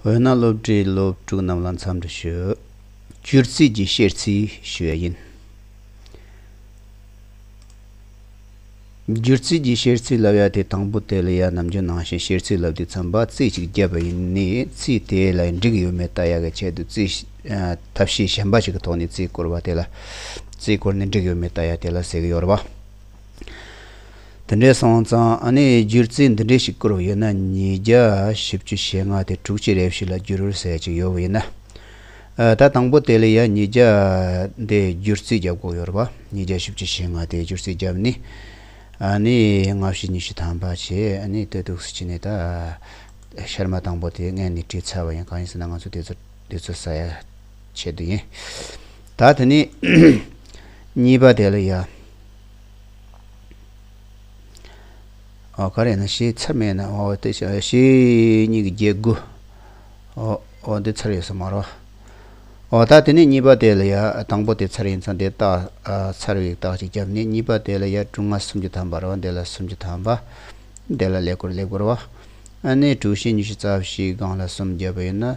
འོ་ན་སློབ་གྲྭའི་སློབ་ཕྲུག་རྣམས་ལ་འཚམས་འདྲི་ཞུ། སྒྱུར་རྩིས་ཀྱི་བཤེར་རྩིས་ཞུ་བ་ཡིན། སྒྱུར་རྩིས་ཀྱི་བཤེར་རྩིས་ལབ་ཡ་དེ་དང་པོ་དེ་ལ་ཡ་ནམ་རྒྱུན་ནང་བཞིན་བཤེར་རྩིས་ལབ་དུས་འཚམས་པ་རྩིས་གཅིག་བརྒྱབ་པ་ཡིན། རྩིས་དེ་ལ་འགྲིག་ཡོད་མེད་བལྟ་ཡ་གི་ཆེད་དུ་རྩིས་ཐབས་ཤེས་གཞན་པ་ཞིག་གི་ཐོག་ནས་རྩིས་བསྐོར་བ་དེ་ལ་རྩིས་བསྐོར་ནས་འགྲིག་ཡོད་མེད་བལྟ་ཡ་དེ་ལ་ཟེགས་ཡོར་བ། དེ་འདྲའི་སོང་ཙང་ཨ་ནེ་ཡིས་སྒྱུར་རྩིས་འདི་འདྲའི་ཞིག་བསྐུར་བ་ཡོད་ན་ཉིས་བརྒྱ་བཞི་བཅུ་ཞེ་ལྔ་དེ་དྲུག་ཅེ་རེ་བཞི་ལ་བསྒྱུར་འོད་ཟེར་ཅིག་ཡོད་ཡིན་ན། ད་དང་པོ་དེ་ལ་ཡང་ཉིས་བརྒྱ་དེ་སྒྱུར་རྩིས་བརྒྱབ་དགོས་ཡོད་རེད་པ། ཉིས་བརྒྱ་བཞི་བཅུ་ཞེ་ལྔ་དེ་སྒྱུར་རྩིས་བརྒྱབ་ནི། ཨ་ནེ་ཡིས་ལྔ་བཞི་ཉི་ཤུ་ཐམ་པ་བྱས་ཨ་ནེ་ལྟོས་གཏུགས་སུ་བྱས་ནས་ད་ཤར་མ་དང་པོ་དེ་ངས་ནི་བྲིས་ཚར་བ་ཡིན་གང་ཡིན་ཟེར་ན་ང་ཚོ་དེ་ཚོ་དེ་ཚོ་ཟ་ཡ་བྱེད་དུ་ཡིན། ད་དེ་ནི། གཉིས་པ་དེ་ལ་ཡ། ཨོ་ག་རེ་ན་ཞེས་ཚར་མེད་ན་ཨོ་དེ་བྱ་ཞེས་གཉིས་ཀྱི་བརྒྱད་དགུ། ཨོ་ཨོ་འདི་ཚར་ཡོད་ས་མ་རོ། ཨོ་ད་དེ་ནི་གཉིས་པ་དེ་ལ་ཡ་དང་པོ་དེ་ཚར་ཡིན་ཚང་དེ་རྟགས་ཚར་བའི་རྟགས་ཅིག་བརྒྱབ་ནས་གཉིས་པ་དེ་ལ་ཡ་དྲུག་ལྔ་སུམ་ཅུ་ཐམ་པ་རོ་འདི་ལ་སུམ་ཅུ་ཐམ་པ། འདི་ལ་ལེགས་པོར་ལེགས་པོར་བ། ཨ་ནི་དྲུག་བཞི་ཉི་ཤུ་རྩ་བཞི་སྒང་ལ་སུམ་བརྒྱབ་པ་ཡིན་ན།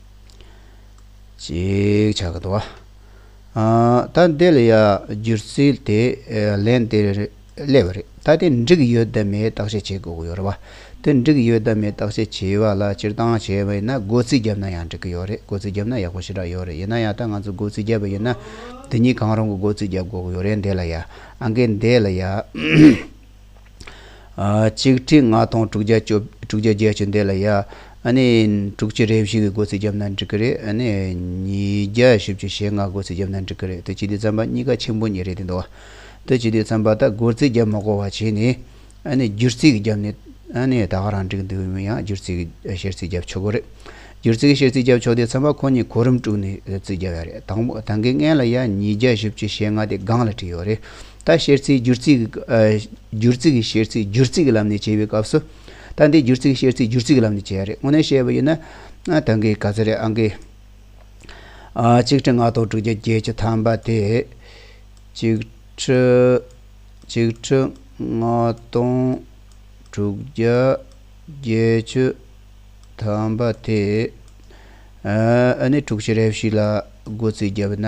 ཅིག་བྱ་དགོས་འདུག་ད་འདི་ལ་ཡང་སྒྱུར་ཚུལ་དེ་ལན་དེ་རེད་སླེ་བ་རེད་ད་དེ་འགྲིག་ཡོད་དམ་མེད་བརྟག་དཔྱད་བྱེད་དགོས་ཀྱི་ཡོད་རེད་བ་དེ་འགྲིག་ཡོད་དམ་མེད་བརྟག་དཔྱད་བྱེད་པ་ལ་སྤྱིར་བཏང་བྱས་པ་ཡིན་ན་སྒོ་རྩིས་བརྒྱབ་ན་ཡང་འགྲིག་གི་ཡོད་རེད་སྒོ་རྩིས་བརྒྱབ་ན་ཡག་པོ་ཞེ་དྲག་ཡོད་རེད་ཡིན་ན་ཡང་ད་ང་ཚོ་སྒོ་རྩིས་བརྒྱབ་པ་ཡིན་ན་དེ་གཉིས་གང་རུང་གི་སྒོ་རྩིས་བརྒྱབ་དགོས་ཀྱི་ཡོད་རེད་འདི་ལ་ཡང་ཨང་ཀི་འདི་ལ་ཡང་གཅིག་ཁྲི་ལྔ་སྟོང་དྲུག་བརྒྱ་བཅུ་བརྒྱ་བརྒྱད་བཅུ་འདས་ལ་ཡ། དྲུག་ཅུ་རེ་བཞི་གི་སྒོ་ཚིགས་བརྒྱབ་ན་འགྲིག་གི་རེད། ཉིས་བརྒྱ་བཞི་བཅུ་ཞེ་ལྔ་སྒོ་ཚིགས་བརྒྱབ་ན་འགྲིག་གི་རེད་དུས་སྤྱི་འཐུས་རྩམ་པ་གཉིས་ཀ་ཆེན་པོ་གཉིས་རེད་དེ་འདུག་དུས་སྤྱི་འཐུས་རྩམ་པ་དག་སྒོ་ཚིགས་བརྒྱབ་མ་གོ་བ་བྱས་ནས། བསྒྱུར་ཚིག་བརྒྱབ་ནས་ད་ག་རང་འགྲིག་འདུག་ཡང་བསྒྱུར་ཚིག་བཤེར་ཚིག་བརྒྱབ་ཆོག་གི་རེད། བསྒྱུར་ཚིག་བཤེར་ཚིག་བརྒྱབ་ཆོག་དུས་རྩམ་པ་ཁོ་གཉིས་གོ་རིམ་དཀྲུགས་ནས་ཚིག་བརྒྱབ་ཡ་རེད། དང་གི་ལྔས་ལ་ཡ་ཉིས་བརྒྱ་བཞི་བཅུ་ཞེ་ལྔ་དེ་སྒང་ལ་བྲིས་ཡོད་རེད། ད་བཤེར་ཚིག་སྒྱུར་ཚིག་སྒྱུར་ཚིག་གི་བཤེར་ཚིག་སྒྱུར་ཚིག་གི་ལམ་ནས་བྱེད་པའི་སྐབས་སུ། ད་འདི་སྒྱུར་ཚིག་བཤེར་ཚིག་སྒྱུར་ཚིག་གི་ལམ་ནས་བྱས་རེད་དངོས་གནས་བཤད་པ་ཡིན་ན། ད་འགའི་ག་ཚོད་རེད་ཨང་ཀི། གཅིག་ཁྲི་ལྔ་སྟོང་དྲུག་བརྒྱ་བརྒྱད་ཅུ་ཐམ་པ་དེ། གཅིག་ཁྲི། གཅིག་ཁྲི་ལྔ་སྟོང་དྲུག་བརྒྱ་བརྒྱད་ཅུ་ཐམ་པ་དེ། ཨ་ནི་དྲུག་བྱེ་རེབ་ཞིག་ལ་སྒོ་ཚིག་བརྒྱབ་ན།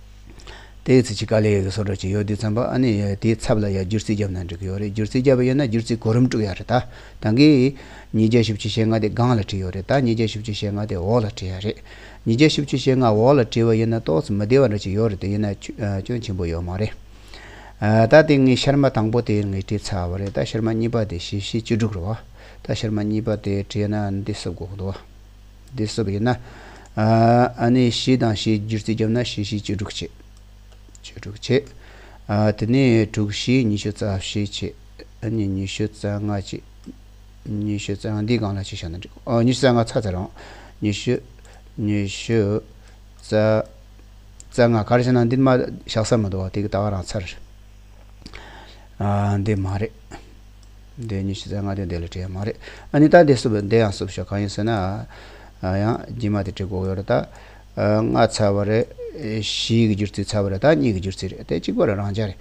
དེའི་ཚེ་ཆི་ཀ་ལས་ཡོད་ཀྱི་སོ་ཀྲ་ཆི་ཡོད་དུས་བརྩམས་པ་ཨ་ནི་ཡོད་དེའི་ཚབ་ལ་ཡང་སྒྱུར་རྩིས་བརྒྱབ་ན་འགྲིག་གི་ཡོད་རེད་སྒྱུར་རྩིས་བརྒྱབ་པ་ཡོད་ན་སྒྱུར་རྩིས་གོ་རིམ་དཀྲུག་ཡ་རེད་ད་ད་གིས། ཉིས་བརྒྱ་བཞི་བཅུ་ཞེ་ལྔ་དེ་སྒང་ལ་བྲིས་ཡོད་རེད་ད་ཉིས་བརྒྱ་བཞི་བཅུ་ཞེ་ལྔ་དེ་འོག་ལ་བྲིས་ཡ་རེད། ཉིས་བརྒྱ་བཞི་བཅུ་ཞེ་ལྔ་འོག་ལ་བྲིས་པ་ཡིན་ན་ཏོག་ཙེ་མི་བདེ་བ་འདྲ་ཅིག་ཡོད་རེད་དེ་ཡིན་ན་སྐྱོན་ཆེན་པོ་ཡོད་མ་རེད། ད་དེ་ངས་ཤར་མ་དང་པོ་དེ་ངས་བྲིས་ཚར་བ་རེད་ད་ཤར་མ་གཉིས་པ་དེ་བཞི་བཞི་བཅུ་དྲུག་རེད་བ། ད་ཤར་མ་གཉིས་པ་དེ་བྲིས་ན་འདི་སུ་དགོས་གི་འདུག་བ། འདི་གསོ་བ་ཡིན་ན། ཨ་ནི་བཞི་དང་བཞི་སྒྱུར་རྩིས་བརྒྱབ་ན་བཞི་བཞི་བཅུ་དྲུག་བྱེད། བཅུ་དྲུག་བྱེད། དེ་ནས་དྲུག་བཞི་ཉི་ཤུ་རྩ་བཞི་བྱེད། ཨ་ནི་ཉི་ཤུ་རྩ་ལྔ་བྱེད། ཉི་ཤུ་རྩ་ལྔ་འདི་གང་ལ་བྱེད་བྱ་ན་འགྲིག་གོ། ཉི་ཤུ་རྩ་ལྔ་ཚར་ཚར་རོང། ཉི་ཤུ། ཉི་ཤུ། རྩ། རྩ་ལྔ་ག་རེ་བྱེད་ན་འདི་མ། ཞག་གསར་མ་འདུག་བ་དེ་གི་ད་ག་རང་ཚར། འདི་མ་རེད། འདི་གཉིས་ཕྱི་ཚེས་ལྔ་སྟོན་ཟླའི་ལས་བྲེལ་མ་རེད་ཨ་ནི་ད་འདི་བསུབ་འདི་ཡང་བསུབ་ཤོག་གང་ཡིན་ཟེར་ན་ཨ་ཡང་རྗེས་མ་དེ་བྲིས་གོ་ཡོད་རེད་ད། ལྔ་ཚར་བ་རེད། བཞི་གི་འགྱུར་ཚིག་ཚར་བ་རེད་ད་གཉིས་ཀྱི་འགྱུར་ཚིག་རེད་དེ་གཅིག་པ་རེད་རང་འཇགས་རེད།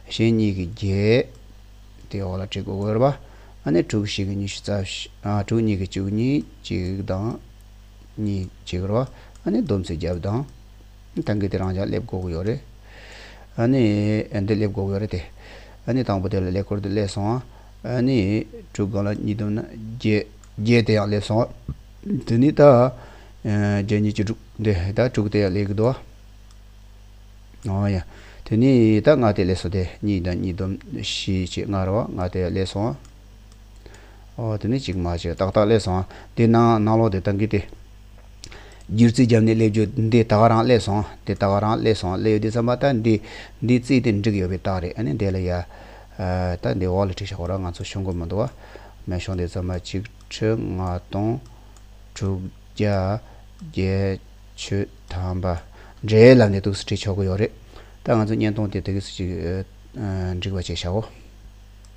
གཞན་གཉིས་ཀྱི་བརྒྱད། དེའི་འོག་ལ་བྲིས་གོ་གོ་ཡོད་རེད་པ། ཨ་ནི་དྲུག་གི་ཞིག་གི་གཉིས་ཤུ་རྩ་བཞི། དྲུག་གཉིས་ཀྱི་བཅུ་གཉིས་གཅིག་དང། གཉིས་གཅིག་རེད་པ། ཨ་ནི་བསྡོམས་ཚིག་བརྒྱད་དང། ད་གི་དེ་རང་ཅག་སླེབས་དགོས་ཀྱི་ཡོད་རེད། ཨཱ་ནི། འདི་སླེབས་དགོས་ཀྱི་ཡོད་རེད་དེ། ཨཱ་ནི་དང་པོ་དེ་ལ་ལེགས་པོར་དེ་སླེབས་སོང། ཨཱ་ནི། དྲུག་སྒང་ལ་གཉིས་བསྡོམས་ན་བརྒྱད། བརྒྱད་དེ་ཡང་སླེབས་སོང། དེ་ནི་ད། བརྒྱད་གཉིས་བཅུ་དྲུག། འདི་ད་དྲུག་དེ་ཡང་སླེབས་ཀྱི་འདུག། ཨོ་ཡ། དེ་ནི་ད་ལྔ་དེ་སླེབས་སོང་སྟེ་གཉིས་དང་གཉིས་བསྡོམས་བཞི་བཅས་ལྔ་རེད་བ། ལྔ་དེ་ཡང་སླེབས་སོང། ཨོ་དེ་ནི་གཅིག་མ་གཅིག་ཏག་ཏག་སླེབས་སོང། འདི་ནང་ནང་ལོགས་དེ་ད་གི་དེ། སྒྱུ་རྩལ་རྒྱབ་ནས་སླེབས་རྒྱུ་འདི་ད་ག་རང་སླེབས་སོང་འདི་ད་ག་རང་སླེབས་སོང་སླེབས་ཡོད་དུས་བསམ་པ་ད་འདི་འདི་བརྩིས་ཏེ་འགྲིག་ཡོད་པའི་རྟགས་རེད་ཨ་ནི་འདས་ལ་ཡ། ད་འདི་འོག་ལ་བྲིས་ཤག་གོ་ར་ང་ཚོ་ཤོང་དགོས་མི་འདུག་ཨ། མེ་ཤོང་འདི་བརྩམས་པ་གཅིག་ཁྲི་ལྔ་སྟོང་དྲུག་བརྒྱ་བརྒྱད་ཅུ་ཐམ་པ་འདྲའི་ལམ་ནས་ཐུགས་སུ་བྲིས་ཆོག་གི་ཡོད་རེད། ད་ང་ཚོ་བརྙན་ཐུང་དེ་ད་གིས་སུ་ཅིག་འགྲིག་པ་བྱས་ཤག་གོ།